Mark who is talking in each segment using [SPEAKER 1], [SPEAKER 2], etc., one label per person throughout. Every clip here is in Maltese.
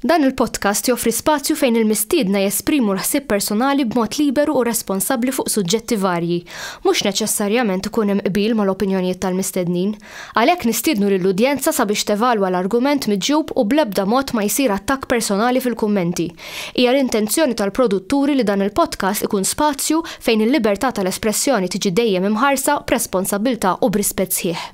[SPEAKER 1] Dan il-podcast joffri spazju fejn il-mistiedna jesprimu l-ħsieb personali b'mod liberu u responsabbli fuq suġġetti varji. Mhux neċessarjament ikun hemm qbil mal-opinjonijiet tal-mistednin. Għalhekk nistiednu lill-udjenza sabiex tevalwa l-argument miġjub u bl-ebda mod ma jsir attakk personali fil-kummenti. Hija l-intenzjoni tal-produtturi li dan il-podcast ikun spazju fejn il-libertà tal-espressjoni tiġi dejjem imħarsa b'responsabbiltà u b'rispett sħiħ.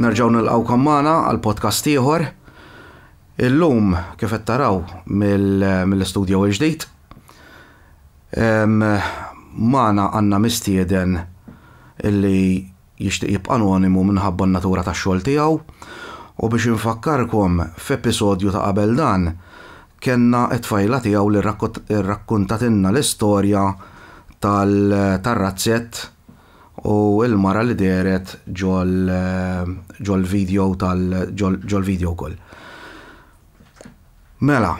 [SPEAKER 2] Nerġgħu nilqgħukom magħna għal podcast ieħor. Illum kif qed taraw mill-istudjo l-ġdid. Magħna għandna mistieden illi jixtieq jibqa' anonimu minħabba n-natura tax-xogħol tiegħu u biex infakkarkom f'episodju ta' qabel dan kellna t-tfajla tiegħu li rrakkuntatilna l-istorja tar-razzett u l-mara li dehret ġol-video wkoll. Mela.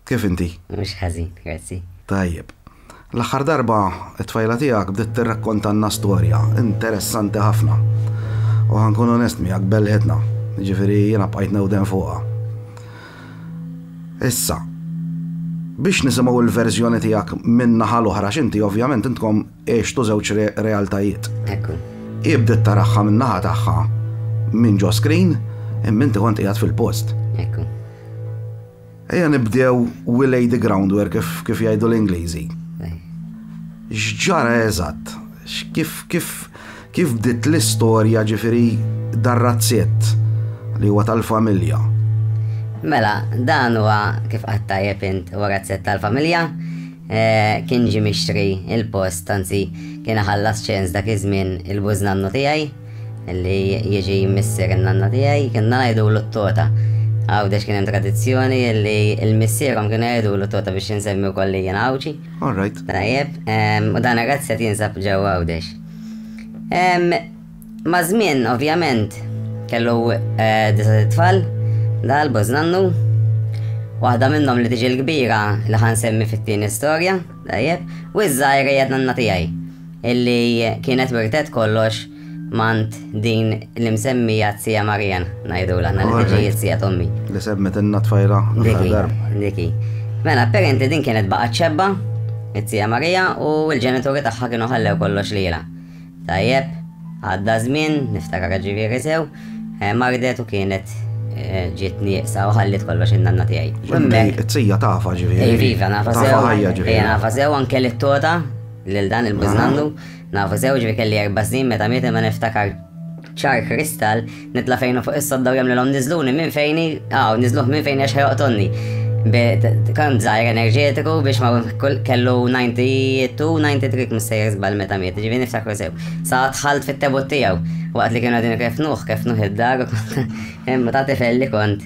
[SPEAKER 2] Kif inti? Mhux ħażin,
[SPEAKER 3] grazzi. Tajjeb.
[SPEAKER 2] L-aħħar darba t-tfajla tiegħek bdiet tirrakkontalna storja interessanti ħafna. U ħa nkun onest miegħek belħitna, jiġifieri jiena bqajt newden fuqha. Issa, biex nisimgħu l-verżjoni tiegħek min-naħa l-oħra x'inti ovvjament intkom għextu żewġ realtajiet. Ekku.
[SPEAKER 3] Ibdet taraħħa
[SPEAKER 2] min-naħa tagħha minn ġo screen imma inti kont qiegħed fil-post. Ekku. Ejja nibdew we lay the groundwork kif, kif jgħidu l-Ingliżi. X'ġara eżatt? Kif, kif, kif bdiet l-istorja ġifiri dar-razzett li huwa tal-familja? Mela,
[SPEAKER 3] dan huwa kif qattajjeb int huwa razzett tal-familja, eh, kien ġi mixtri il-post, tanzi kien ħallas ċens dak iż-żmien il-bużnannu tiegħi. Li jiġi missier in-nanna tiegħi kienna ngħidulu t-tota. Għawdex kien hemm tradizzjoni li l-missierhom kienu jgħidulu t-tota biex insemmi wkoll li jien Għawdxi. All right. Tajjeb, u dan ir-razz qed jinsab ġew Għawdex. Ma' żmien, ovvjament, kellu disa' tfal, dal bożnannu, waħda minnhom li tiġi l-kbira li ħansemmi fit-tieni storja. Tajjeb, u iż-żgħir hija d-nanna tiegħi, illi kienet wirtet kollox m'għand din l-imsemmija t-Tija Marian, ngħidulha aħna li tiġi t-Tija t'ommi. Li semmitilna
[SPEAKER 2] t-tfajla l-aħħar darba. Dik hi.
[SPEAKER 3] Mela, apparenti din kienet baqgħet xebba, it-Tija Marija, u l-ġenituri tagħha kienu ħallew kollox lilha. Tajjeb, għadda żmien, niftakar ġifieri sew, mardet u kienet ġiet nieqsa u ħalliet kollox in-nanna tiegħi. U hemmhekk. It-tija tafha ġifieri.
[SPEAKER 2] Iva, iva, nafha sew. Tafha
[SPEAKER 3] ħajja ġifieri. Iva, nafha sew anke li t-tota lil dan il-biżnannu, nafha sew ġifieri kelli erba' snin meta miet imma niftakar ċar kristall Nitla' fejn hu fuq is-sodda u jagħmlilhom niżluni minn fejni, aw, niżluh minn fejni għax ħejoqtolni. Kont żgħir enerġetiku biex ma kellu 92, 93 mistejjer żball meta miet, ġivi niftakru sew. Sa tħalt fit-tebut tiegħu, waqt li kienu għadin kefnuh, kefnuh id-dar, imma ta' tifel li kont.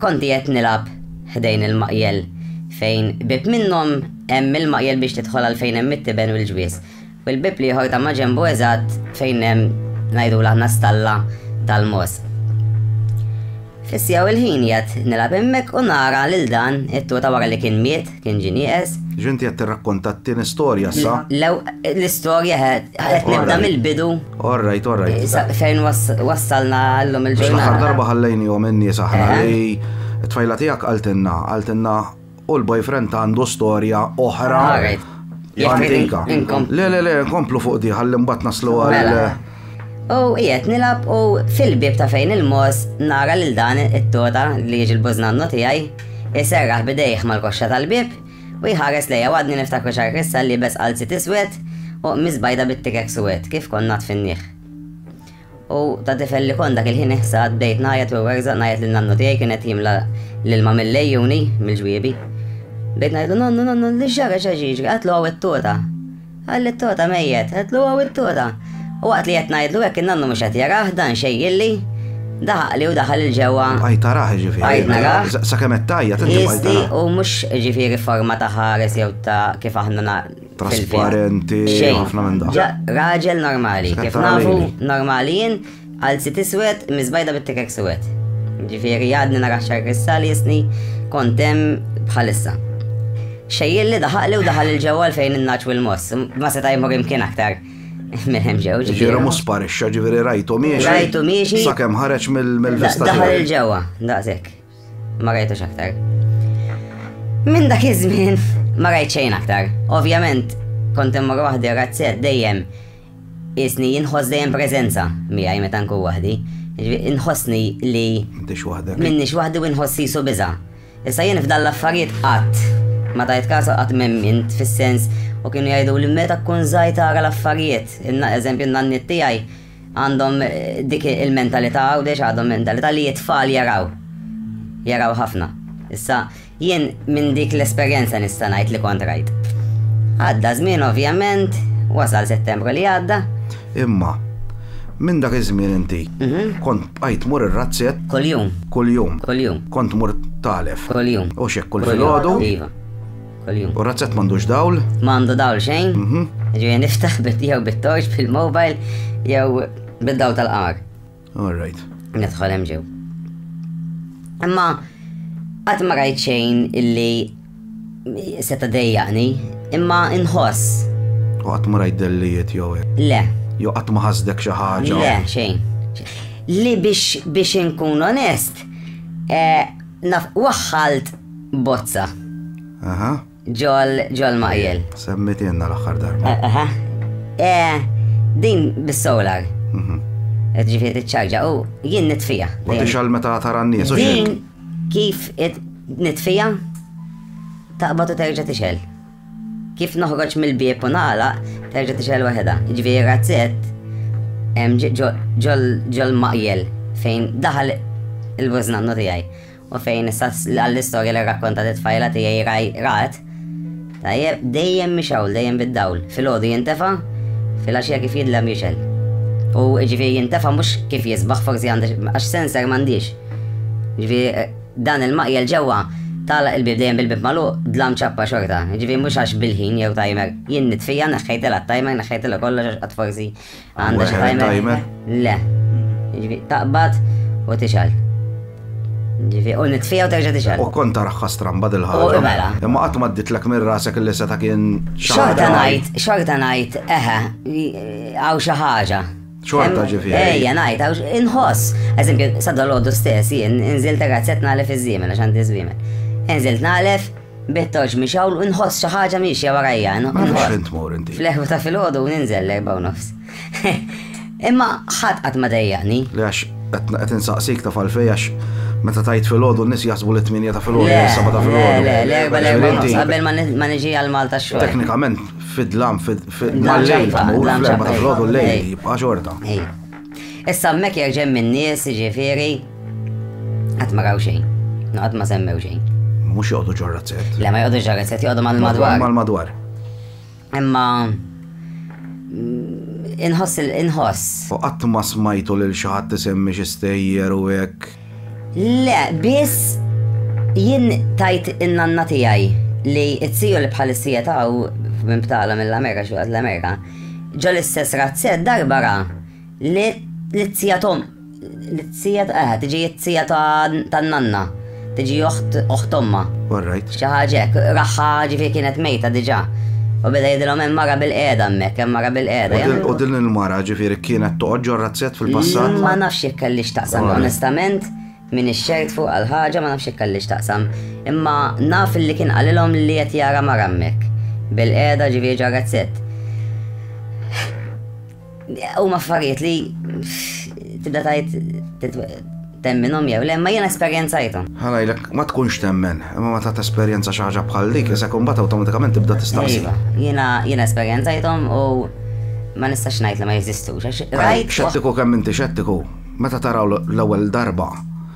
[SPEAKER 3] Kont qiegħed nilgħab ħdejn il-maqjel fejn bieb minnhom hemm il-maqjel biex tidħol għal fejn hemm it-tiben u l-ġwież, u l-bieb l-ieħor ta' maġenbu eżatt fejn hemm ngħidulha aħna stalla tal-mogħoż. Fis-siegħa u l-ħin qiegħed nilgħab hemmhekk u nara lil dan it-tuta wara li kien miet Kien ġie nieqes. Ġinti qed tirrakkonta
[SPEAKER 2] t-tieni storja issa? Lew, l-istorja
[SPEAKER 3] qed nibda mill-bidu. All right, all
[SPEAKER 2] right. Sa fejn
[SPEAKER 3] wassalna llum il-ġurnata. Biex l-aħħar darba ħallejnihom
[SPEAKER 2] in-nies aħna li t-tfajla tiegħek qaltilna, qaltilna u l-boyfriend għandu storja oħra. Antika. Le, le, le, nkomplu fuq di, ħalli mbagħad naslu għal. U
[SPEAKER 3] qiegħed nilab u fil-bieb ta' fejn il-moż nara lil dan it-tota li jiġi l-bużnannu tiegħi iserraħ bidejh mal-koxxa tal-bieb u jħares lejja u għadni niftakru xar Krista liebes qalziet iswed u qmiż bajda bit-tikek suwed kif kont ngħadd fin-niħ. U ta' tifel li kont dak il-ħin iħsad bdejt ngħajjat u werżaq ngħajjat lil nannu tiegħi kien qed jimla l-ilma mill-lejjuni mill-ġwiebi. Bdejt ngħidlu nannu nannu li ġara x'għax jiġri qatlu hawn it-tota. Qal lit-togħta mejjet, għedlu hawn it-togħta. U waqt li qed ngħidlu hekk in-nannu mhux qed jarah, dan xejjilli, daħaqli u daħal 'il ġewwa. Bqajt arah jiġifieri.
[SPEAKER 2] Bqajt narah. Sakemm
[SPEAKER 3] qed tgħajjat inti
[SPEAKER 2] bqajt tarah. Jiżdiq u mhux
[SPEAKER 3] jiġifieri forma ta' ħares jew ta' kif aħna na. Trasparenti,
[SPEAKER 2] ħafna minn dak. Xejn. Raġel normali.
[SPEAKER 3] Kif nafu normali jien, Għal sit iswed, miżbajda bit-tikek suwed. Ġifieri għadni nara xar kristali jisni kont hemm bħalissa. Xejjilli daħaqli u daħal il-ġewwa fejn in-naċ u l-moss, ma seta' jmur imkien aktar minn hemm ġew. Ġifieri ma sparixxa,
[SPEAKER 2] ġifieri rajtu miexi. Rajtu miexi. Sakemm
[SPEAKER 3] ħareġ mill-vista.
[SPEAKER 2] Daħal il-ġewwa,
[SPEAKER 3] daqshekk. Ma rajtux aktar. Minn dak iż-żmien ma rajt xejn aktar. Ovvjament, kont hemm waħdi razzet dejjem Qiesni inħoss dejjem preżenza miegħi meta nkun waħdi. Jiġifieri inħossni li M'intix waħdek. minnix waħdi u nħoss qisu biża'. Issa jien f'dan l-affarijiet qatt ma tajt kas u qatt m'emmint fis-sens u kienu jgħiduli meta tkun żgħir tara l-affarijiet. Inna- Eżempju n-nanniet tiegħi għandhom eh, dik il-mentalità Għawdex għadhom mentalità li t-tfal jaraw. Jaraw ħafna. Issa Jien minn dik l-esperjenza nista' ngħid li kont rajt. Għadda żmien ovvjament, wasal Settembru li għadda. Imma
[SPEAKER 2] minn dak iż-żmien inti mhm. kont bqajt mur ir-razzett. Kuljum. Kuljum.
[SPEAKER 3] Kuljum.
[SPEAKER 2] Kont mur
[SPEAKER 3] talef.
[SPEAKER 2] Kuljum. U xek kull
[SPEAKER 3] filgħodu.
[SPEAKER 2] Iva.
[SPEAKER 3] Kuljum. U razzett m'għandux
[SPEAKER 2] dawl? M'għandu dawl xejn.
[SPEAKER 3] Mhm. Ġifieri niftaħ bit jew bit-torċ bil-mobile jew bid-dawl tal-qar. All right.
[SPEAKER 2] Nidħol hemm ġew.
[SPEAKER 3] Imma qatt ma rajt xejn illi seta' dejjaqni, imma inħoss. U qatt ma
[SPEAKER 2] rajt dellijiet jew hekk. Le. Jew qatt ma
[SPEAKER 3] ħasdek
[SPEAKER 2] xi ħaġa. Le, xejn.
[SPEAKER 3] Li biex biex inkun onest, eh, naf waħħalt bozza. Aha.
[SPEAKER 2] Ġol,
[SPEAKER 3] ġol maqjel. Semmit jenna l-axħar
[SPEAKER 2] darba.
[SPEAKER 3] Eh, aha. Eh, din bis-solar. Mhm. Qed ġifieri tiċċarġa u jien nitfija. U tixal meta
[SPEAKER 2] tara n-nies u xejn. Kif
[SPEAKER 3] nitfija taqbad u terġa' tixel. Kif noħroġ mill-bieb u nagħlaq terġa' tixel waħedha. Ġifieri razzett ġol maqjel fejn daħal il-bużnannu tiegħi. U fejn issa għall-istorja li rrakkontat it-tfajla tiegħi raj rat, tajjeb dejjem mhix hawn, dejjem bid-dawl. Filgħodu jintefa', filgħaxija kif jidlem jixel. U ġifieri jintefa' mhux kif jisbaħ forsi għandi għax sensor m'għandix. Ġifieri dan il-maqjel ġewwa tagħlaq il-bib dejjem bil-bib magħluq dlam ċappa xorta. Ġifieri mhux għax bil-ħin jew timer jien nitfija neħħejtilha t-timer neħħejtilha kollox għax qatt forsi Għandha xi timer? Le. Ġifi, taqbad u tixal. Ġifi, u nitfija u terġa tixal. U kont taraħ stramba
[SPEAKER 2] dil-ħagġa. Mela. Imma qatt ma
[SPEAKER 3] ditlek
[SPEAKER 2] minn rasek li seta kien xorta ngħid,
[SPEAKER 3] xorta ngħid, eħe, għaw xi ħaġa. Xorta ġifi.
[SPEAKER 2] Ejja, ngħid, għaw
[SPEAKER 3] inħoss. Eżempju, sadda l-għoddu stess, jien, inżilt razzet nagħlef iż-żiemen għax għandi żwiemen. Inżilt nagħlef, Bittoġ miex hawn u nħoss xi ħaġa miexja warajja.
[SPEAKER 2] Fl-eħru ta' filgħodu
[SPEAKER 3] ninżel l-erba' u nofs. Imma ħadd qatt ma dejjaqni. Għax
[SPEAKER 2] qed insaqsik ta' falfej għax meta tajt filgħodu n-nies jaħsbu li tminja ta' filgħodu s-saba ta' filgħodu. Le, le,
[SPEAKER 3] le, le, qabel ma niġi għal Malta xogħol. Teknikament fid-dlam
[SPEAKER 2] fid-dlam fil-lejl, fl-erba ta' filgħodu l-lejl jibqa' xorta. Issa
[SPEAKER 3] hemmhekk jerġa' hemm in-nies, jiġifieri qatt ma raw xejn, qatt ma semmew xejn. Mhux joqogħdu ġo
[SPEAKER 2] razzett. Le ma joqogħdu ġo razzett, joqogħdu
[SPEAKER 3] mal-madwar. Mal-madwar.
[SPEAKER 2] Imma
[SPEAKER 3] mm, inħoss il-inħoss. U qatt ma
[SPEAKER 2] smajtu lil xi ħadd isemmi xi stejjer u hekk. Le,
[SPEAKER 3] biss jien tajt in-nanna tiegħi li t-tiju li bħalissija taw minn btala mill-Amerika xi waqt l-Amerika ġol istess razzett darba ra li t-tija tom li t-tija eh, tiġi t-tija tan-nanna, tiġi oħt oħt omma. All right. Xi ħaġa hekk. Raħħa ġifieri kienet mejta diġà. U beda jgħidilhom hemm mara bil-qiegħda hemmhekk, hemm mara bil-qiegħda. U din il-mara
[SPEAKER 2] ġifieri kienet toqgħod ġo razzett fil-passat? Ma nafx jekk kelli
[SPEAKER 3] x'taqsam onestament, m'iniex ċert fuqha l-ħaġa, ma nafx jekk kelli x'taqsam. Imma naf li kien qalilhom li qed jara mara hemmhekk, bil-qiegħda ġifieri ġo razzett. U maffariet li tibda tajt temminom jew le, ma jena esperienzajtom. Għalajlek, ma tkunx
[SPEAKER 2] temmen, imma ma ta' esperienza xaħġa bħal dik, jisa kumbat automatikament tibda tistaqsi. Iva, jena jena
[SPEAKER 3] esperienzajtom u ma nistax najt li ma jeżistux. Xettiku kemm inti
[SPEAKER 2] xettiku, meta taraw l-ewwel darba,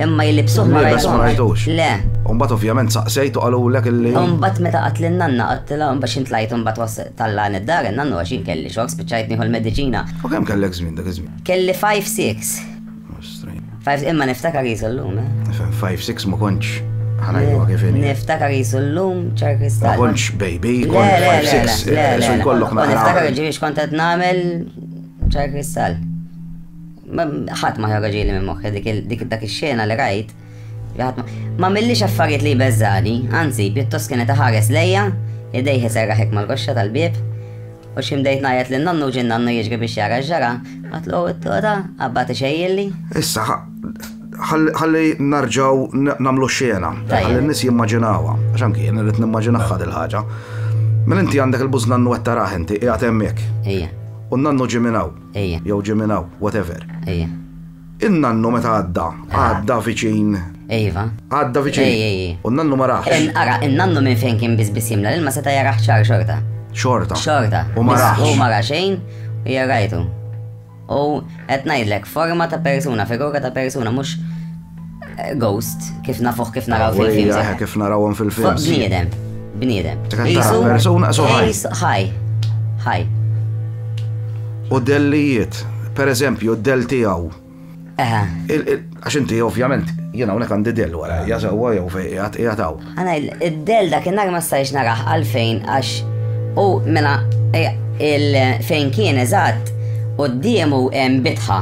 [SPEAKER 3] Imma jilli bsuħ ma rajtux. Ma rajtux. Le.
[SPEAKER 2] Umbat
[SPEAKER 3] ovvjament
[SPEAKER 2] saqsejt u għalulek illi. Umbat meta għat l-nanna
[SPEAKER 3] għattila umbat xint lajt umbat was talla id-dar il-nannu għaxin kelli xok spiċajt nieħu l-medicina. U kem kellek zmin dak
[SPEAKER 2] zmin? Kelli 5-6.
[SPEAKER 3] Imma niftakar jizu l-lum, eh? 5-6 ma
[SPEAKER 2] konċ. Ħanajdu kif Niftakar jizu l-lum
[SPEAKER 3] ċar kristall. Ma konċ
[SPEAKER 2] baby, konċ 5-6. Eh, Niftakar ġivix kontet
[SPEAKER 3] namel ċar kristall. Ħadd ma ħoroġili minn moħħi dik dak ix-xena li rajt. Ma millix affarijiet li jbeżżani, anzi, pjuttost kienet iħares lejja, idejh iserraħek mal-koxxa tal-bieb, u xi mdejt ngħajjat lil nonnu ġie nannu jiġri biex jara x'ġara, għatlu t-toda, qabbad ixejjilli. Issa,
[SPEAKER 2] ħalli narġaw nagħmlu x-xena, ħalli n-nies jimmaġinawha, għax anki jien irrid nimmaġinawha dil ħaġa Mela inti għandek il-buż nannu qed tarah inti, qiegħed hemmhekk. Ejja. U
[SPEAKER 3] nannu ġie minn
[SPEAKER 2] hawn. Ejja. Jew ġie minn
[SPEAKER 3] hawn,
[SPEAKER 2] whatever. Ejja.
[SPEAKER 3] In-nannu
[SPEAKER 2] meta għadda, għadda viċin. Iva.
[SPEAKER 3] Għadda viċin. Ej,
[SPEAKER 2] ej, ej. U n-nannu ma raħx. In, ara, in-nannu minn fejn
[SPEAKER 3] kien biss biss jimla l-ilma seta' jaraħ ċar xorta. Xorta. Xorta.
[SPEAKER 2] U ma raħx. U ma raħ xejn
[SPEAKER 3] u jarajtu. U qed ngħidlek forma ta' persuna, figura ta' persuna, mhux Ghost, kif nafuħ kif naraw fil-film. Ejja, kif narawhom fil-film.
[SPEAKER 2] Bniedem, bniedem.
[SPEAKER 3] Jisu persuna
[SPEAKER 2] so ħaj. Ħaj, ħaj. U dellijiet, per eżempju, del tiegħu. Għax inti ovvjament jena unek għandi del wara, jazawa jew fej jgħataw. Għana il-del
[SPEAKER 3] dak il-nar ma stajx naraħ għalfejn għax u mela eh, il-fejn kien eżatt u d-diemu bitħa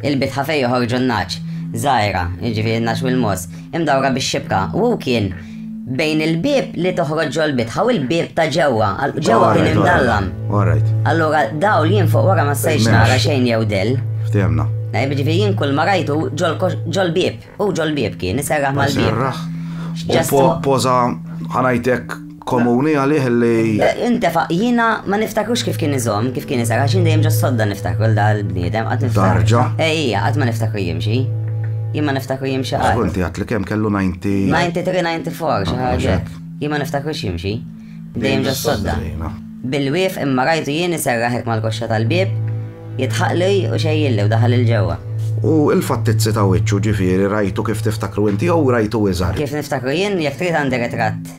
[SPEAKER 3] Il-bitħa fejn joħorġu n-nagħaġ, żgħira, jiġifieri n-nagħaġ u l-mogħoż, imdawra bix-xibka, u hu kien bejn il-bieb li toħroġ ġol-bitħa u l-bieb ta' ġewwa, għal ġewwa kien imdallam. Allura dawl jien fuq wara ma stajtx nara xejn jew del. Ftehemna. Eh,
[SPEAKER 2] jiġifieri jien kull
[SPEAKER 3] ma rajtu ġol-bieb, u ġol-bieb kien, iserraħ mal-bieb. Ġastu.
[SPEAKER 2] Poża ħanajtek komuni għalih li. Intefa, jina
[SPEAKER 3] ma niftakrux kif kien iżom, kif kien iżar, għaxin dejjem ġo sodda niftakru l-bniedem, għat niftakru. Darġa? Ejja, għat ma
[SPEAKER 2] niftakru
[SPEAKER 3] jimxi. Jien ma niftakru jimxi għal. Ah, inti għat li kem kellu 90.
[SPEAKER 2] 93, 94,
[SPEAKER 3] xaħġa. Jien ma niftakru jimxi. Dejjem ġo sodda. Bil-wif imma rajtu jien iserraħek mal-koxxa tal-bib, jitħaqli u xejjilli u daħal il-ġewwa. U il-fattizzi
[SPEAKER 2] ta' wiċċu ġifieri rajtu kif tiftakru inti jew rajtu iżgħar. Kif niftakru jien jekk
[SPEAKER 3] trid għandi ritratt.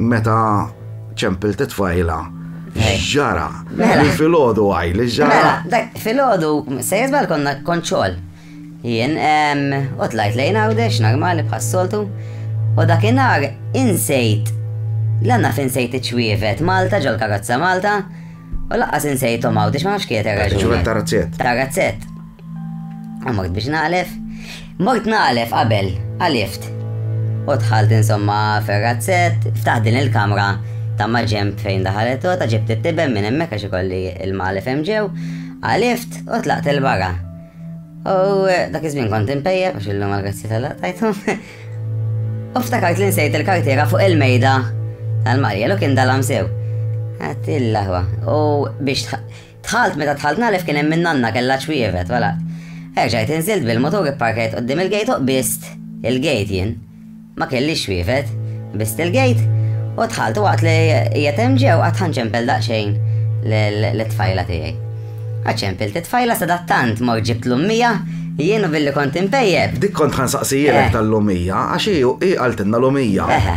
[SPEAKER 2] Meta ċempil titfajla, ġara. Mela. Fil-ħodu għaj, li ġara. Mela, dak fil-ħodu,
[SPEAKER 3] se jizbal konna konċol. Jien, u tlajt lejn għawdex, normali bħas-soltu, u dakinhar insejt, l-għanna finsejt iċwievet Malta, ġol karozza Malta, u laqqas insejtom għawdex ma nafx kiet raġuni. Ċwievet tarazzet.
[SPEAKER 2] Tarazzet.
[SPEAKER 3] Għamort biex naqlef. Mort naqlef qabel, għalift. U dħalt insomma ferrazzet, ftaħ din il-kamra ta' maġemb fejn daħalet u ta' ġibt it-tiben minn hemmhekk għax ikolli il-malef hemm ġew, għalift u tlaqt il-barra. U eh, dak iż-żmien kont impejja biex illum għal-grazzi tal-laqtajtu. U ftakart li nsejt il-kartiera fuq il-mejda tal-Marja, lu kien dalam sew. Għattilla ħwa. U biex Dħalt, meta dħalt nagħref kien hemm in-nanna kellha ċwievet, wala. Erġajt inżilt bil-mutur ipparkajt quddiem il-gate u qbiżt il-gate jien. Ma kellix ċwievet. Qbiżt il-gate u dħalt u waqt li qiegħed hemm ġew qatt ħa nċempel daqsxejn lit-tfajla tiegħi. Qatt ċempilt it-tfajla sadattant mort ġibt l-ummija jien u billi kont inpejjep. Dik kont ħa nsaqsijilek
[SPEAKER 2] tal-lumija għax hi qaltilna lumija. Eħe.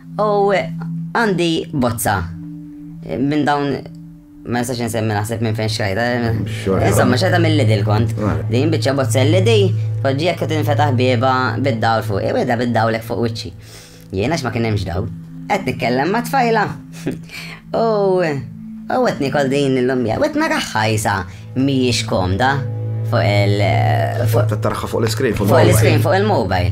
[SPEAKER 3] U għandi bozza minn dawn ma nistax nsemmi naħseb minn fejn xajta. Insomma, xajta mill lidi l kont. Din bieċa bozza l lidi poġġi jekk tinfetaħ bieba bid-dawl fuq. Iweda bid-dawlek fuq wiċċi. Jiena x'ma kien hemmx dawl. Qed nitkellem ma' tfajla. U u qed nikol din l-lumja. U qed naraħħa jisa mhijiex komda fuq il- Fuq
[SPEAKER 2] il-iskrin, fuq il-mobile. Fuq il-iskrin, fuq
[SPEAKER 3] il-mobile.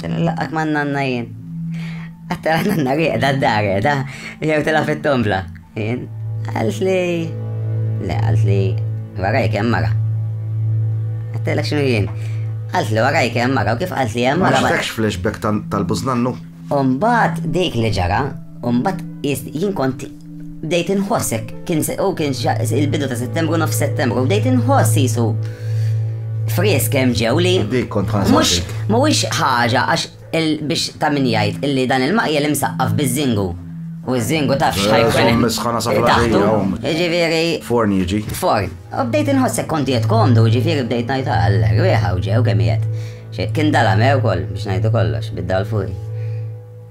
[SPEAKER 3] Tela laqat ma' nanna jien. Għattela nanna rieqda d-dar da, jew tela fit-tombla. Jien, għalt li. Le, għalt li waraj kem mara. Għattela xinu jien. Għalt li waraj kem mara, u kif għalt li jem mara. Għaxtekx flashback
[SPEAKER 2] tal-buznannu? Umbat
[SPEAKER 3] dik li ġara, umbat jien kont Bdejt inħoss hekk, kien u kien il-bidu ta' Settembru nofs Settembru, bdejt inħoss jisu frisk hemm ġew li mhux
[SPEAKER 2] mhuwiex ħaġa
[SPEAKER 3] għax biex ta' min jgħid illi dan il-maqjel imsaqqaf biż-żingu. U ż-żingu taf eh, xħajkun. Misħana sa' taħtu.
[SPEAKER 2] Ġifieri.
[SPEAKER 3] Forn jiġi.
[SPEAKER 2] Forn. U bdejt
[SPEAKER 3] inħossek konti qed komdu, ġifieri bdejt ngħid għal rieħa u ġew kemm Kien dala mew kol biex ngħidu kollox bid-dal fuq.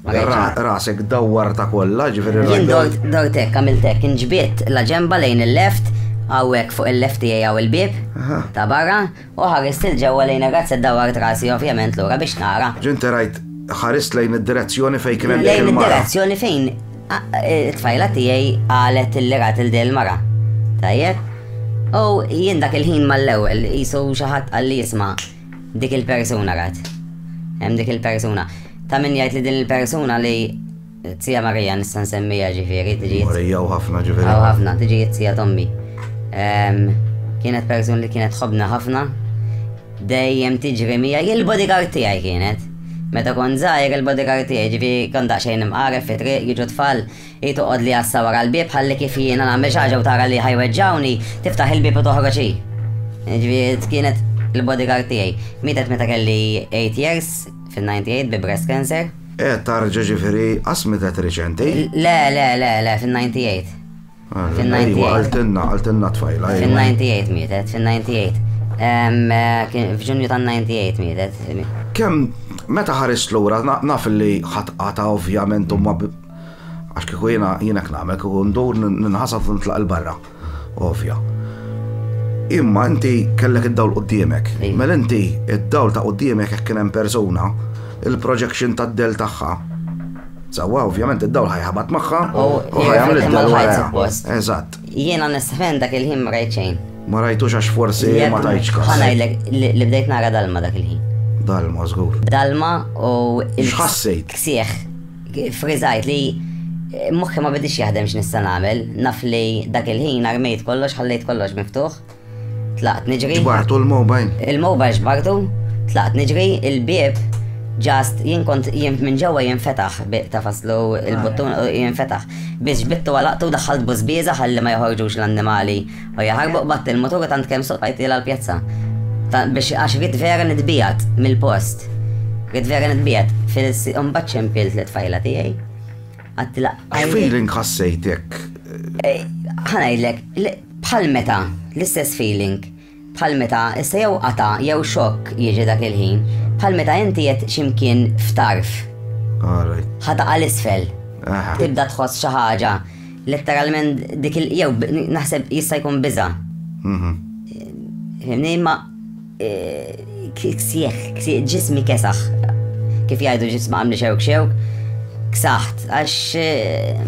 [SPEAKER 2] Għalhekk ha. Rasek dawwartha kollha, jiġifieri rajt. Jien dort, dort hekk,
[SPEAKER 3] għamilt hekk, inġbidt l-aġenba lejn il-left, hawnhekk fuq il-left tiegħi hawn il-bieb ta' barra, u ħarist 'il ġewwa lejn ir-razzett dawwart rasi ovvjament lura biex nara. Ġo inti rajt,
[SPEAKER 2] ħarist lejn id-direzzjoni fejn kien hemm dik il-mara. Lejn id-direzzjoni fejn
[SPEAKER 3] it-tfajla tiegħi qalet illi rat lil din il-mara. Tajjeb? U jien dak il-ħin mal-ewwel qisu xi ħadd qalli isma', Dik il-persuna rat. Hemm dik il-persuna. Ta' min jgħid li din il-persuna li Tija Marija nista' nsemmija ġifieri tiġi. Marija u ħafna ġifieri.
[SPEAKER 2] U ħafna tiġi tija
[SPEAKER 3] tommi. Ehm, kienet persuna li kienet ħobna ħafna. Dejjem tiġri mija il-bodyguard tiegħi kienet. Meta kon żgħir il-bodyguard tiegħi ġifieri kon daqsxejn imqaref fi triq jiġu tfal Hi toqgħod li għassa wara l-bieb ħalli kif jiena nagħmel xi ħaġa u tara li ħa jweġġgħuni, tiftaħ il-bieb u toħroġ hi. Ġifieri kienet il-bodyguard tiegħi. Mietet meta kelli 8 years fin-98 bi breast cancer. E tarġa ġifieri
[SPEAKER 2] qas mietet riċenti? Le, le, le, le,
[SPEAKER 3] fin-98. Ah, fin-98. Iva, għaltinna, għaltinna
[SPEAKER 2] tfajla. Iva. Fin-98
[SPEAKER 3] mietet, fin-98. Eh, f'ġunju ta' 98 mietet. Kem,
[SPEAKER 2] meta ħarist lura, naf li ħatqata ovvjament u ma Għax kieku jiena jiena nagħmel kieku ndur ninħasab u nitlaq il-barra. Ovja. Imma inti kellek id-dawl quddiemek. Mela inti id-dawl ta' quddiemek jekk kien hemm persuna, il-projection tad-del tagħha. Sawa, ovvjament id-dawl ħajħabat magħha u ħajgħamel id-dawl wara. Eżatt. Jiena nistħen
[SPEAKER 3] dak il-ħin ma rajt xejn. Ma rajtux għax forsi
[SPEAKER 2] ma tajtx kas. Ħanajlek li bdejt
[SPEAKER 3] nara dalma dak il-ħin. Dalma, żgur.
[SPEAKER 2] Dalma u
[SPEAKER 3] il-ħassejt.
[SPEAKER 2] Ksieħ
[SPEAKER 3] Friżajt li moħħi ma bidix jaħdem x'nista' nagħmel, naf li dak il-ħin armejt kollox ħallejt kollox miftuħ. Tlaqt niġri. Ġbartu l-mobile?
[SPEAKER 2] Il-mobile ġbartu,
[SPEAKER 3] tlaqt niġri, il-bieb ġast jien kont jien minn ġewwa jinfetaħ ta' faslu il-buttun jinfetaħ. Biex bittu għalaqtu daħħalt bużbieża ħalli ma joħorġux l-annimali U jaħarbu qbadt il-mutur tant kemm soqajtilha l-pjazza. Biex għax rrid vera nitbijat mill-post. Rrid vera nitbijat fil-imbagħad ċempilt li tfajla tiegħi. Għattila. Feeling
[SPEAKER 2] ħassejtek. Eh,
[SPEAKER 3] ħanajdlek, bħal meta, l-istess feeling bħal meta issa jew qata jew xokk jiġi dak il-ħin, bħal meta inti qed ximkien f'tarf. Ħata għal isfel. Tibda tħoss xi ħaġa Letteralment dik il jew naħseb jista' jkun biża. Mhm. Fimni ma e, ksieħ, ksieħ, ġismi kesaħ. Kif jgħidu ġismi għamli xew xew, ksaħt, għax e,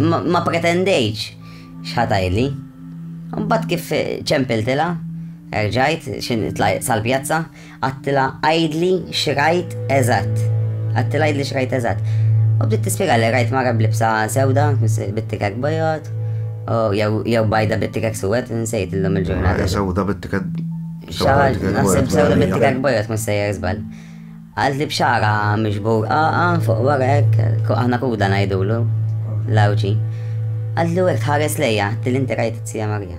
[SPEAKER 3] ma pretendejċ xħatajli. Mbagħad kif ċempiltila, erġajt, xin sal-pjazza, Għattila għajdli xrajt eżatt. Għattila għajdli xrajt eżatt. U bdiet tispjega li rajt mara blibsa sewda, bit-tikek bojot, u jew bajda bit-tikek suwed, nsejt illum il-ġurnata. Sewda bit-tikek.
[SPEAKER 2] Xaħġ,
[SPEAKER 3] naħseb sewda bit-tikek bojot, mus sejjer zbal. Għalt li bxara mġbur għaqa fuq warek, għana kuda najdulu, lawċi. Għalt li għek tħares lejja, til-inti rajt t-sija Marija.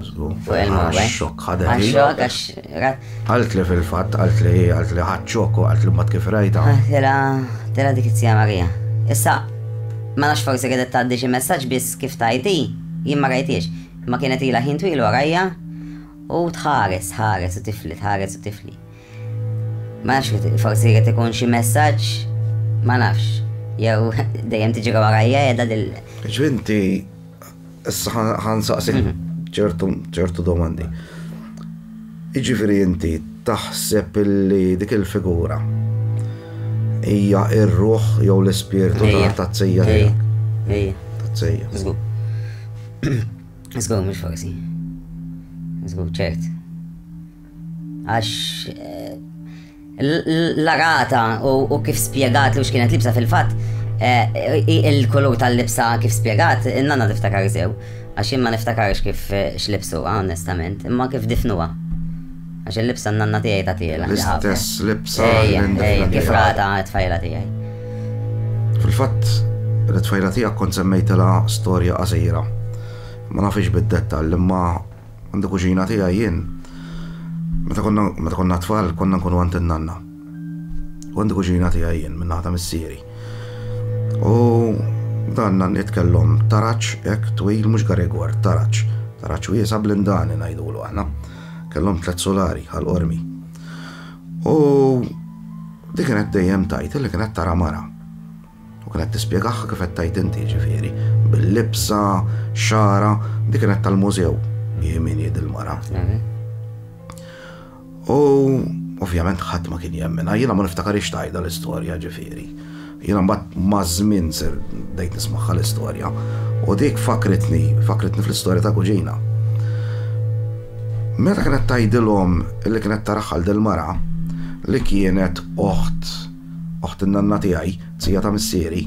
[SPEAKER 3] Fuq il-mowbaj. Xok, ħadet. Għal xok, għax. Għalt li fil-fat,
[SPEAKER 2] għalt li, għalt li ħad xok, għalt li mbat kif rajta. Ah, tela, tela
[SPEAKER 3] dik it-sija Marija. Issa, ma nafx forsi għedet taddi xi messaġġ biss kif tajti, jien ma rajtiex. Ma kienet ila ħin twil warajja u tħares, ħares u tifli, tħares u tifli. Ma nafx forsi għet ikun xi messaġġ, ma nafx. Jew dejjem tiġi warajja edha dil. Ġvinti
[SPEAKER 2] Issa ħan saqsih ċertu ċertu domandi. Iġifieri inti taħseb li dik il-figura hija ir-ruħ jew l-ispirtu ta' tsejja tiegħek. Ejja. Ta' tsejja.
[SPEAKER 3] Żgur. Żgur mhux forsi. Żgur ċert. Għax l-arata u kif spiegat li x'kienet libsa fil-fatt, il-kulur tal-libsa kif spiegat, in-nana tiftakar sew. Għax jien ma niftakarx kif x'libsu, onestament, imma kif difnuha. Għax il-libsa n-nanna tiegħi ta' tiela. L-istess libsa.
[SPEAKER 2] Ejja, kif
[SPEAKER 3] rata t-tfajla tiegħi.
[SPEAKER 2] Fil-fatt, l-tfajla tiegħek kont semmejtela storja qasira. Ma nafx bid-dettall, imma Għandu kuġina tiegħi jien. Meta konna meta konna tfal konna nkunu għand in-nanna. U għandu kuġina tiegħi jien minn naħa ta' missieri. U dan nanniet kellhom taraġ hekk twil mhux garigwar, taraġ. Taraġ wiesa' blindani ngħidulu aħna. Kellhom tliet sulari għal qormi. U dik kienet dejjem tajt li kienet tara mara. U kienet tispjegahha kif qed tgħid inti, jiġifieri, bil-libsa, xagħarha, dik kienet tal-mużew, hi min hi dil-mara. U ovvjament ħadd ma kien jemmina, jiena ma niftakar tajda l-istorja ġifieri. Jiena mbagħad maż-żmien ser dejt nismaħħa l-istorja u dik fakritni, fakritni fl-istorja ta' kuġina. Meta kienet tajdilhom li kienet taraħħal del mara li kienet oħt oħt in-nanna tiegħi, t-tija ta' missieri,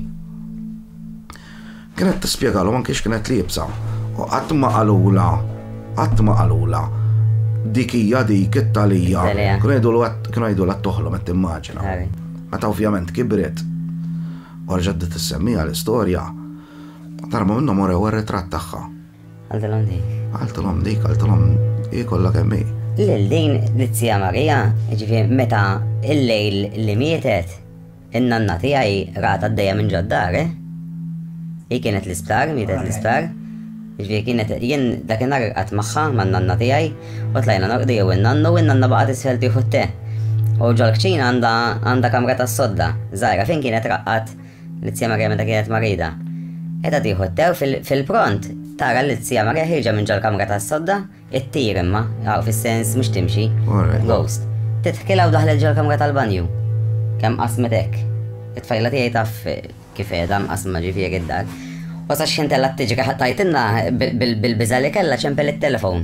[SPEAKER 2] kienet tispjegalhom anki x'kienet liebsa u qatt ma qalulha qatt ma qalulha dik hija dik it-talija. Kienu jgħidulha t-toħlom qed timmaġina. Meta ovvjament kibret u reġgħet bdiet issemmiha l-istorja, darba minnhom urew ir-ritratt tagħha. Għal talhom dik. Għal talhom dik, għal talhom hi kollha kemm hi. Lil din l-Zija
[SPEAKER 3] Marija, ġifier meta il-lejl li mietet, in-nanna tiegħi rat għaddejja minn ġoddar, eh? Hi kienet l-isptar, mietet l-isptar. Ġviri kienet jien dakinhar irqat magħha man-nanna tiegħi u tlajna norqdu jew in-nannu u n-nanna baqgħet isfel tieħu t-te. U ġol-kċina għandha kamra tas-sodda, żgħira fejn kienet raqqat Lizzija Marija meta kienet marida. Qiegħda tieħu t-te u fil-pront tara lizzija Marija ħirġa minn ġol-kamra tas-sodda, ittir imma, hawn fis-sens mhux timxi, ghost. Tidħkilha u daħlet ġol-kamra tal-banju. Kemm qasmet hekk. It-tfajla tiegħi taf kif qiegħda mqasma ġifieri d-dar. Wasa x'intella t-tiġri ħattajtilna bil-biża li kellha ċempel it-telefon.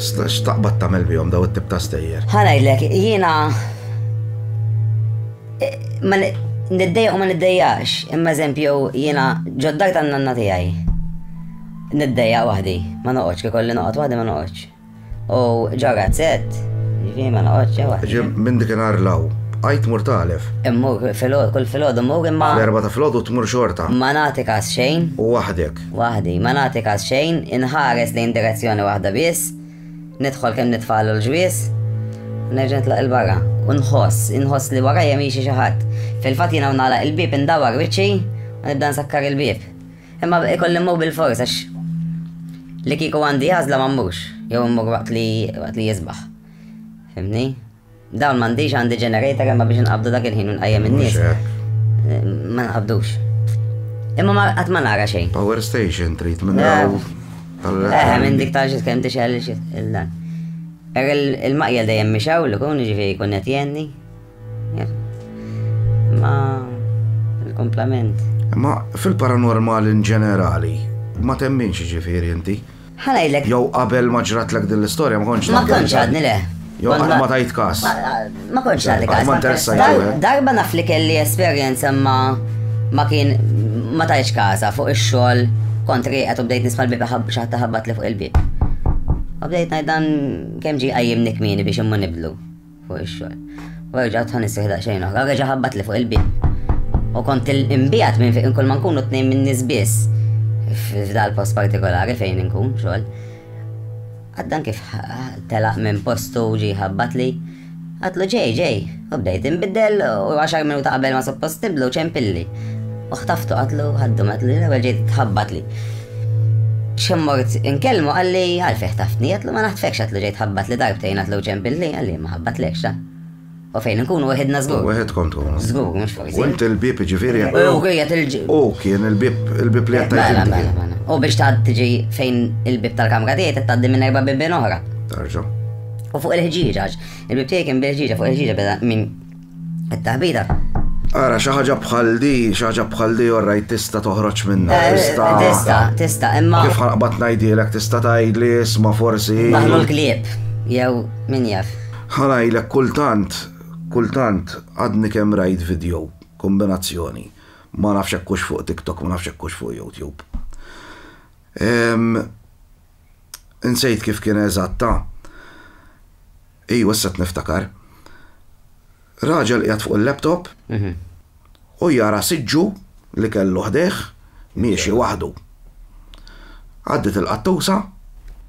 [SPEAKER 2] X'taqbad tagħmel bihom daw it-tip ta' stejjer? Ħanajlek, jiena
[SPEAKER 3] ma niddejja u ma niddejjax, imma eżempju jiena ġoddak tan nanna tiegħi. Niddejja waħdi, ma noqgħodx kif kolli noqgħod waħdi ma noqgħodx. U
[SPEAKER 2] ġo
[SPEAKER 3] razzett, ġifi
[SPEAKER 2] ma
[SPEAKER 3] noqgħodx ġo waħdi. Ġim minn dik
[SPEAKER 2] inhar
[SPEAKER 3] law, għajt
[SPEAKER 2] mur talef. Immu filgħod,
[SPEAKER 3] kull filgħod immu imma. L-erba ta' filgħod u tmur
[SPEAKER 2] xorta. Ma nagħti każ
[SPEAKER 3] xejn. U waħdek.
[SPEAKER 2] Waħdi, ma nagħti
[SPEAKER 3] każ xejn, inħares lejn direzzjoni waħda biss, nidħol kemm nitfagħlu l-ġwies, nerġa' nitlaq il-barra u nħoss, inħoss li warajja miexi xi ħadd. Fil-fatt jiena nagħlaq il-bieb indawar wiċċi u nibda nsakkar il-bieb. Imma ikolli mmur bil-fors għax li kieku għandi għażla ma mmurx, jew mmur waqt li waqt li jisbaħ. Fimni? Dawn m'għandix għandi generator imma biex nqabdu dak il-ħin u nqajjem in-nies. Ma nqabdux. Imma ma qatt ma nara xejn. Power station trid
[SPEAKER 2] minn daw. Eh,
[SPEAKER 3] minn dik ta' xi kemm tixgħel il-dan. Il-maqjel dejjem mixaw li kun ġifieri jkun qed jenni. Ma il-komplament. Ma
[SPEAKER 2] fil-paranormal in ġenerali, ma temminx ġifieri inti. Ħa ngħidlek. Jew
[SPEAKER 3] qabel ma
[SPEAKER 2] ġratlek din l-istorja ma kontx. Ma kontx għadni le.
[SPEAKER 3] Jew qatt ma tajt
[SPEAKER 2] każ. Ma kontx nagħti
[SPEAKER 3] każ. Ma interessajt.
[SPEAKER 2] Darba naf li kelli
[SPEAKER 3] esperjenza ma ma kien ma tajx każa fuq ix-xogħol kont rieqed u bdejt nisma' l-bib xi ħadd taħabbat li fuq il-bib. U bdejt ngħid dan kemm ġie qajjimni kmieni biex imma nibdlu. fuq ix-xogħol. U erġa' tħan isseħ daqsxejn oħra, reġa' ħabbat li fuq il-bib. U kont il-imbijat minn fejn kull ma nkunu tnejn minn nies biss f'dal post partikolari fejn inkun xogħol. Għaddan kif telaq minn postu ġi ħabbat li għatlu ġej ġej, u bdejt inbiddel u għaxar minuta qabel ma suppost niblu ċempilli. U ħtaftu għatlu għaddu għatlu l-ewwel ġejt tħabbat li. Xemmort inkellmu qalli għalfejh taftni għedlu ma naħtfekx għedlu ġejt ħabbat li darbtejn għedlu ġenb il-li għalli ma ħabbatlekx la. U fejn nkunu wahidna zgur. Wahid kont tkunu. Zgur, mux
[SPEAKER 2] forsi. U int
[SPEAKER 3] il-bib ġifiri.
[SPEAKER 2] U għiet il-ġib. U
[SPEAKER 3] kien il-bib,
[SPEAKER 2] il-bib li għattajt. Mela, mela, mela. U
[SPEAKER 3] biex taħd tiġi fejn il-bib tal-kamra tiegħi taddi minn erba' bibin oħra. Tarġa.
[SPEAKER 2] U fuq
[SPEAKER 3] il-ħġieġaġ. Il-bib tiegħi kien bil-ħġieġa fuq il-ħġieġa beda minn It-taħbita. Ara,
[SPEAKER 2] xi ħaġa bħal di, xi ħaġa bħal di orrajt tista' toħroġ minna. Eh, tista'. Tista', tista',
[SPEAKER 3] imma. Kif ħanqbad ngħidilek
[SPEAKER 2] tista' tgħidli isma' forsi. Daħlu l-klieb,
[SPEAKER 3] jew min jaf. Ħanajlek
[SPEAKER 2] kultant, kultant għadni kemm rajt video kombinazzjoni. Ma nafx hekk fuq TikTok, ma nafx hekk fuq YouTube. Insejt kif kien eżatt ah. Ejwa issa qed niftakar. Raġel qiegħed fuq il-laptop u jara siġġu li kellu ħdejh miexi waħdu. Għaddiet il-qattusa.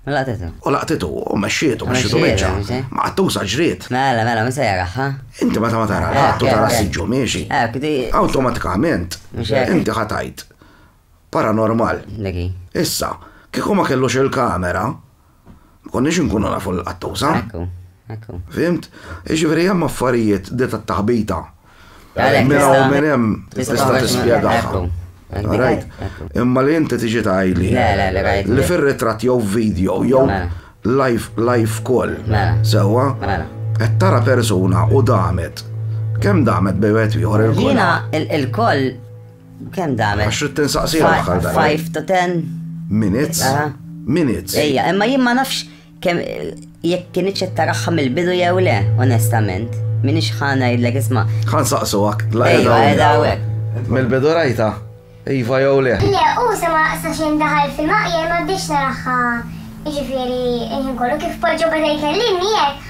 [SPEAKER 2] U laqtitha. U laqtithu u mexxietu, mexxietu miċċa. Ma qattusa ġriet. Mela, mela, min se jaraħ,
[SPEAKER 3] ha? Inti meta ma tara
[SPEAKER 2] l-qatt u tara s-siġġu miexi. Awtomatikament inti ħa tgħid. paranormal. Issa, kieku ma kellux il-kamera, ma konniex inkunu nafu l-qattuża. Ekku, ekku. Fhimt? Jiġifieri hemm affarijiet di tat-taħbita. Għalhekk Minn hawn minn hemm tista' tista' tagħmel- tispjegaha. Ekku. Ekku. Rajt? Ekku. Imma li inti tiġi tgħidli Le, le, le, rajt. li fir-ritratt jew video jew Mela. live live call. Mela. Sewwa? Mela. Qed tara persuna u damet. Kemm damet bejn wieħed u ieħor il-call? Jiena il- il-call
[SPEAKER 3] Kem damen? Għax rrit tinsaqsi għal 5
[SPEAKER 2] to 10
[SPEAKER 3] minutes.
[SPEAKER 2] Minutes. Ejja, imma jien ma
[SPEAKER 3] nafx kem jekk kien iċċet taraħħa mill-bidu jew le, onestament. Min iċħana jidlek isma. Għan saqsu għak.
[SPEAKER 2] Ejja, edha għek.
[SPEAKER 3] Mill-bidu
[SPEAKER 2] rajta. Iva jew le. Le, u sema sa xejn daħal fil-maqja ma bdiex naraħħa.
[SPEAKER 4] Jiġifieri, inħin kollu kif poġġu bada jkellimni jekk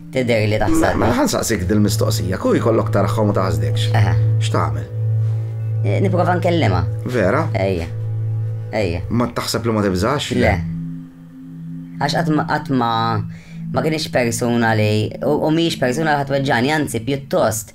[SPEAKER 3] Tidher li taħsad. Mela ħa nsaqsik dil-mistoqsija,
[SPEAKER 2] kieku jkollok taraħħom u taħsdekx. Aha. X'tagħmel? Eh,
[SPEAKER 3] Nipprova nkellimha. Vera? Ejja. Ejja.
[SPEAKER 2] Ma taħseb li ma tibżax? Le.
[SPEAKER 3] Għax qatt ma- qatt ma ma kienx persuna li u u mhijiex persuna li ħadd weġġani, anzi pjuttost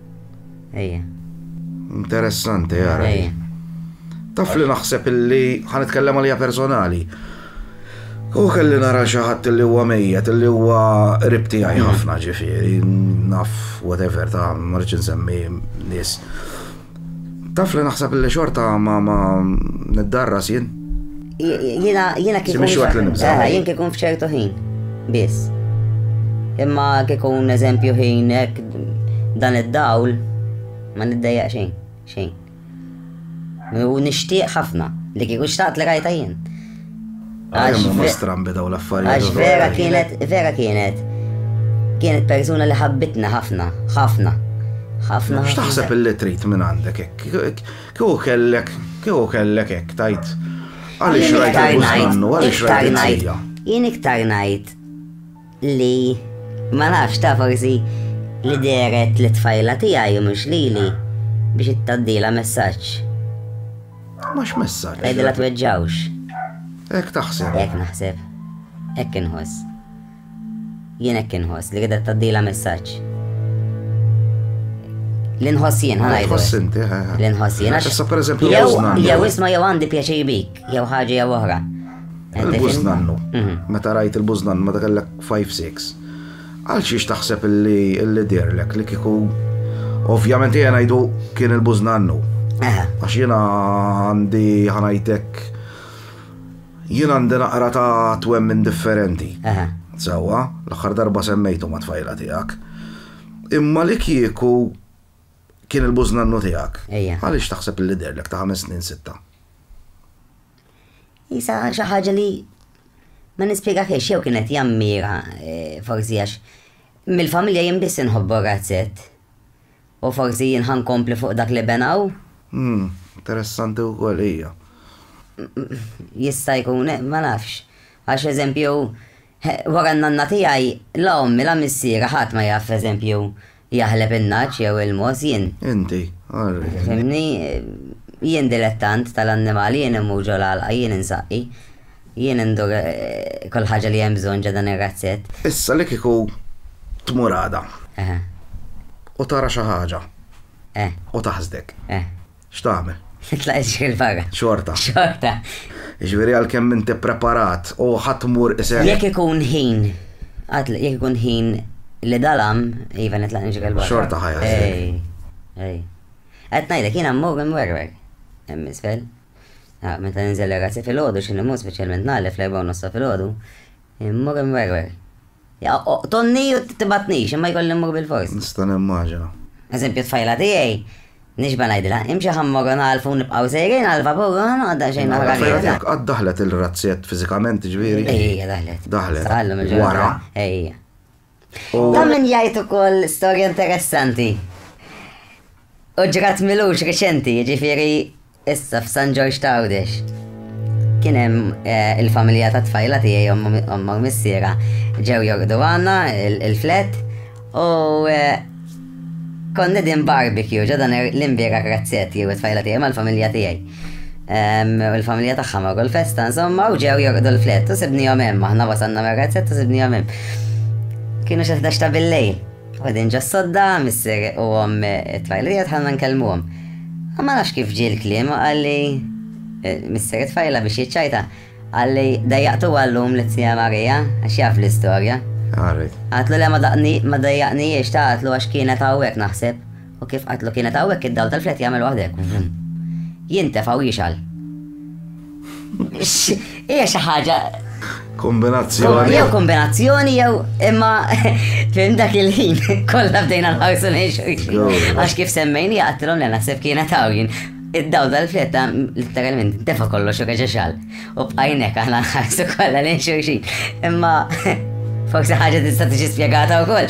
[SPEAKER 3] Ejja.
[SPEAKER 2] Interessanti, jara. Ejja. Taf li naħseb illi ħan itkellem għalija personali. U kelli nara xaħat li huwa mejjet, li huwa ribti għaj mm. ħafna ġifiri, naf, whatever, ta' marċin semmi nis. Taf li naħseb li xorta ma ma niddarras jien. Jina,
[SPEAKER 3] jina kikun. Simix waqt l-nibza. Eh, jien kikun fċertu ħin. Bis. Imma kikun eżempju ħin ek dan id-dawl ma niddejja xejn. Xejn. U nishtiq ħafna li kikun xtaqt li rajta jien. Ah, Għax
[SPEAKER 2] ma strambi daw l-affarijiet. Għax vera kienet, vera
[SPEAKER 3] kienet. Kienet persuna li ħabbitna ħafna, ħafna. Ħafna. X'taħseb
[SPEAKER 2] il-li trid minn għandek Kieku kellek, kieku kellek hekk tgħid. Għaliex rajt il-buskannu, għaliex rajt il-sija. Jien iktar
[SPEAKER 3] ngħid li ma nafx ta' forsi li deret li tfajla tiegħi u mhux lili biex ittaddila messaġġ.
[SPEAKER 2] Mhux messaġġ. Tgħidilha tweġġawx.
[SPEAKER 3] Hekk
[SPEAKER 2] taħseb. Hekk naħseb.
[SPEAKER 3] Hekk inħoss. Jien hekk inħoss li qiegħda tgħaddilha messaġġ. L-inħoss jien ħanajdu. L-inħoss inti,
[SPEAKER 2] L-inħoss jien. Issa
[SPEAKER 3] per eżempju
[SPEAKER 2] jew isma' jew
[SPEAKER 3] għandi pjaċir bik, jew ħaġa jew oħra. Il-bużnannu.
[SPEAKER 2] Mhm. Meta rajt il-bużnannu meta kellek 5-6. Għal xiex taħseb li dirlek li kiku Ovvjament jena jdu kien il-bużnannu. Għax jena għandi ħanajtek Jien għandi naqra ta' twemmin differenti. Sewwa, l-aħħar darba semmejtu ma' tfajla tiegħek. Imma li kieku kien il-bużnannu tiegħek, għaliex taħseb li deherlek ta' ħames snin sitta?
[SPEAKER 3] Isa xi ħaġa li ma nispjegahiex jew kienet jammira eh, forsi għax mill-familja jien biss inħobbu razzett. U forsi jien ħa nkompli fuq dak li benaw. Hm,
[SPEAKER 2] interessanti wkoll hija.
[SPEAKER 3] Jista' jkun, ma nafx. Għax eżempju, wara n-nanna tiegħi, la ommi la missieri ħadd ma jaf eżempju jaħleb in-nagħaġ jew il-mogħoż, jien. Inti, orri.
[SPEAKER 2] Fhimni,
[SPEAKER 3] jien dilettant tal-annimali, jien immur ġol-għalqa, jien insaqqi. Jien indur kull ħaġa li hemm bżonn ġo dan ir-razzett. Issa li kieku
[SPEAKER 2] tmur għada. Eħe. U tara xi ħaġa. Eh. U taħsdek. Eh. X'tagħmel? Titlaq iġri
[SPEAKER 3] 'l barra. Xorta. Xorta. Jiġifieri
[SPEAKER 2] għalkemm inti ppreparat u ħa tmur isek. Jekk ikun ħin,
[SPEAKER 3] għad jekk ikun ħin li dalam, iva nitlaq niġri 'l barra. Xorta ħajja.
[SPEAKER 2] Ej. Ej.
[SPEAKER 3] Qed ngħidlek jiena mmur imwerwer. Hemm isfel. Ah, meta ninżel ir-rasi filgħodu xi nimut speċjalment nagħlef fl-erba' u nossa filgħodu, immur imwerwer. Ja, tonni u tibatnix, imma jkolli mmur bil-fors. Nista' nimmaġina.
[SPEAKER 2] Eżempju tfajla
[SPEAKER 3] tiegħi, nixba ngħidilha, imxi ħammor nagħlfu nibqgħu sejrin għal vapur għadda xejn oħra. Tfajla tiegħek qatt daħlet
[SPEAKER 2] il-razzjet fiżikament ġifieri? Ejja daħlet.
[SPEAKER 3] Daħlet. Wara.
[SPEAKER 2] Ejja.
[SPEAKER 3] Dan min jgħid ukoll storja interessanti. U ġrat milux reċenti, ġifiri issa f'San Ġorġ Tawdex. Kien hemm eh, il-familja ta' tfajla tiegħi omma missiera ġew jorqdu għandna il-flet u eh, Kont qegħdin barbecue ġo dan l-imbieraħ razzett jew it-tfajla tiegħi mal-familja tiegħi. U l-familja tagħha marru l-festa insomma u ġew jorqdu l-flett u sibnihom hemm aħna wasalna mir-razzett u sibnihom hemm. Kienu xi ħdax ta' billejl. Għadin ġo sodda, missier u għom it-tfajla tiegħi tħallna nkellmuhom. Ma nafx kif ġie l-kliem għalli eh, missier it-tfajla biex jiċċajta Qalli, Dejjaqtuha llum lit-Tnina Marija, għax jaf l-istorja. Għarrid. Għadtlu le ma dejjaqnihiex ta' għadtlu għax kienet hawnhekk naħseb, u kif għadtlu kienet hawnhekk id-dawl tal-flet jagħmel waħda hekk, vum. Jintefa' u jixgħal. Hija xi ħaġa
[SPEAKER 2] Kombinazzjoni. Jew
[SPEAKER 3] kombinazzjoni jew imma fim dak il-ħin kollha bdejna nħarsu nejxu. Għax kif semmejni għattilhom li naħseb kienet hawn Id-dawl tal-fetta litteralment tefa' kollox u reġa' xal. U bqajnek aħna nħarsu kollha lejn xulxin. Imma forsi ħaġa tista' tiġi spjegata wkoll.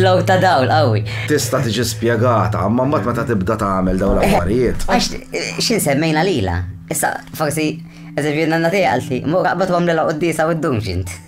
[SPEAKER 3] Low ta' dawl qawwi. Tista' tiġi
[SPEAKER 2] spjegata, imma mbagħad meta tibda tagħmel dawn l-affarijiet. Għax x'in
[SPEAKER 3] semmejna lilha. Issa forsi eżempju nanna tiegħi qaltli, mur aqbad wagħmlilha quddiesa u ddum x'int.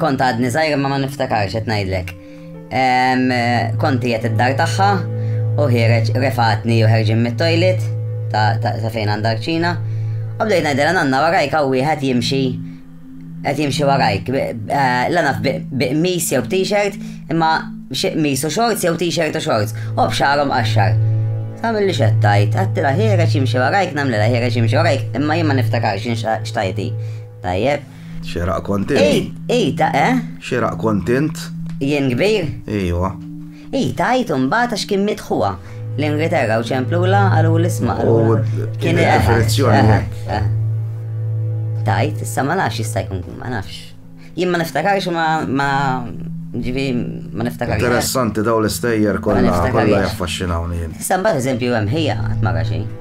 [SPEAKER 3] Kont għadni żgħir imma ma niftakarx qed ngħidlek. Kont qiegħed id-dar tagħha u ħireġ refatni u ħerġin mit-toilet ta' fejn għandha ċina. U bdejt ngħidilha nanna warajk hawn wieħed jimxi qed jimxi warajk. Eh, la naf biqmis jew t-shirt imma xi qmis u shorts jew t-shirt u shorts. U b'xarhom qaxxar. Samilli xettajt, għattila ħireċ jimxi warajk, namlila ħireċ jimxi warajk, imma jimma niftakarx xtajti. Tajjeb. Xeraq kont
[SPEAKER 2] int? Ej, ej, ta' eh? Xeraq kont int? Jien kbir?
[SPEAKER 3] Ejwa.
[SPEAKER 2] Ej, ta' għid
[SPEAKER 3] u mbagħad għax kien miet ħuha. L-Ingilterra u ċemplula għalu l-isma għalu. Kien
[SPEAKER 2] il-referizzjoni. Ta'
[SPEAKER 3] għid, issa ma nafx jista' jkun ma nafx. Jien ma niftakarx ma ma ġivi ma niftakarx. Interessanti daw l-istejjer
[SPEAKER 2] kollha kollha jaffaxxinawni jien. Issa mbagħad eżempju hemm
[SPEAKER 3] ħija qatt ma xejn.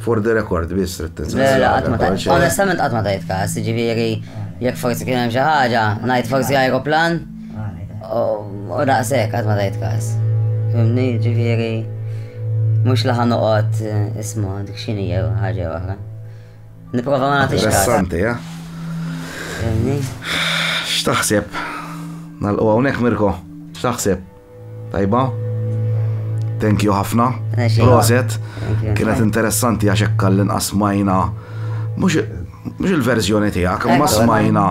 [SPEAKER 3] For the record, biss
[SPEAKER 2] trid tinsel. Le, le, qatt
[SPEAKER 3] ma ta' onestament qatt ma tajt każ, jiġifieri jekk forsi kien hemm xi ħaġa, ngħid forsi ajruplan u daqshekk qatt ma tajt każ. Fimni, jiġifieri mhux li ħa noqgħod eh, isma' dik x'inhi jew ħaġa jew oħra. Nipprova ma nagħtix każ. Interessanti, ja?
[SPEAKER 2] Fimni? X'taħseb? Nalqu hawnhekk Mirko? X'taħseb? Tajba? Thank you ħafna. Proset. Kienet interessanti għax hekk l-inqas smajna mhux il-verżjoni tiegħek, ma smajna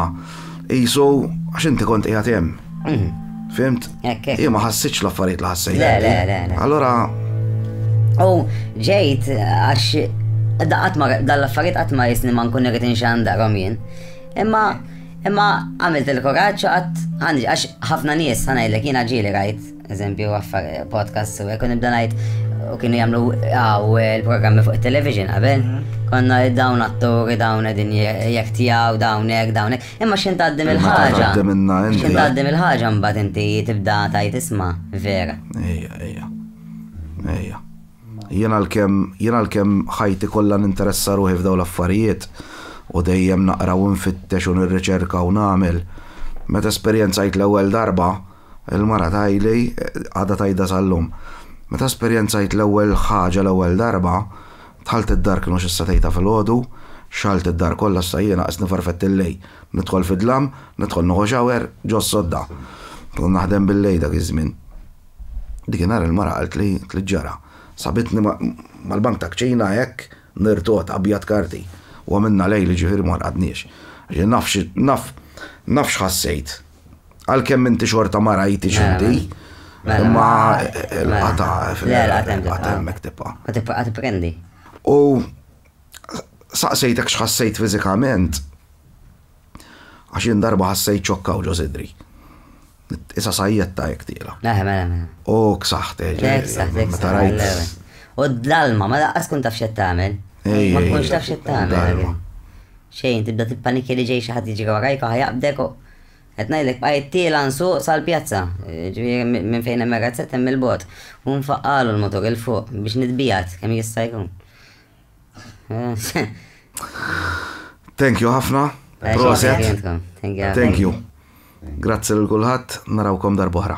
[SPEAKER 2] jisu għax inti kont qiegħed hemm. Mhm. Fimt? Jien ma ħassitx l-affarijiet li ħassejt. Le, le, le, le. Allora. U
[SPEAKER 3] ġejt għax daqat ma dal-affarijiet qatt ma jisni ma nkun irrid inxandarhom jien. Imma Imma għamilt il-kuraġġ u qatt għandi għax ħafna nies ħanajlek jiena ġieli rajt, eżempju, affar podcast u hekk u nibda ngħid u kienu jagħmlu għaw il-programmi fuq it-television qabel. Mhm. Konna dawn atturi, dawn edin jek tijaw, dawn jek, dawn jek. Imma xin taddim il-ħagġa. Xin taddim il-ħagġa mbat inti tibda tajt isma, vera. Ejja, ejja.
[SPEAKER 2] Ejja. Jien għalkemm jien għalkemm ħajti kollha ninteressa ruħi f'dawn l-affarijiet u dejjem naqra u nfittex u nirriċerka u nagħmel, meta esperjenzajt l-ewwel darba, il-mara tgħidli, għadha tgħidha sal-lum, meta esperjenzajt l-ewwel ħaġa l-ewwel darba, dħalt id-dar kienu xi satejn ta' filgħodu, xgħalt id-dar kollha issa jiena qist nifarfett il-lejl, nidħol fid-dlam, nidħol nieħu shower ġo s-sodda. Kont naħdem bil-lejl dak iż-żmien. Dikinhar il-mara qaltli li ġara. Sabitni mal-bank ta' kċina hekk nirtot abjad karti u għamilna lejl jiġifieri ma rqadniex. Naf naf x'ħassejt. Għalkemm inti xorta ma rajtix inti imma l-qatgħa fil-qatgħa hemmhekk tibqa'. Tibqa' tipprendi.
[SPEAKER 3] U
[SPEAKER 2] saqsejtek x'ħassejt fiżikament Għax jien darba ħassejt ċokka u ġo sidri. Isa sajjetta jek tila. Mela, mela, mela. U
[SPEAKER 3] ksaħt, eh,
[SPEAKER 2] ġej. Ksaħt, ksaħt.
[SPEAKER 3] U d-dalma, ma laqqas kun taf xed tagħmel. Ma kunx taf xed tagħmel. Xejn, tibda tippaniki li ġej xi ħadd jiġi warajk u ħajaqbdek u qed ngħidlek bqajt tiela nsuq sal-pjazza. Ġifieri minn fejn hemm razzett hemm il-bot. U nfaqqalu l-motor il fuq biex nitbijat kemm jista' jkun.
[SPEAKER 2] Thank you ħafna. Proset.
[SPEAKER 3] Thank
[SPEAKER 2] you. Grazzi l-kulħat, narawkom darbohra.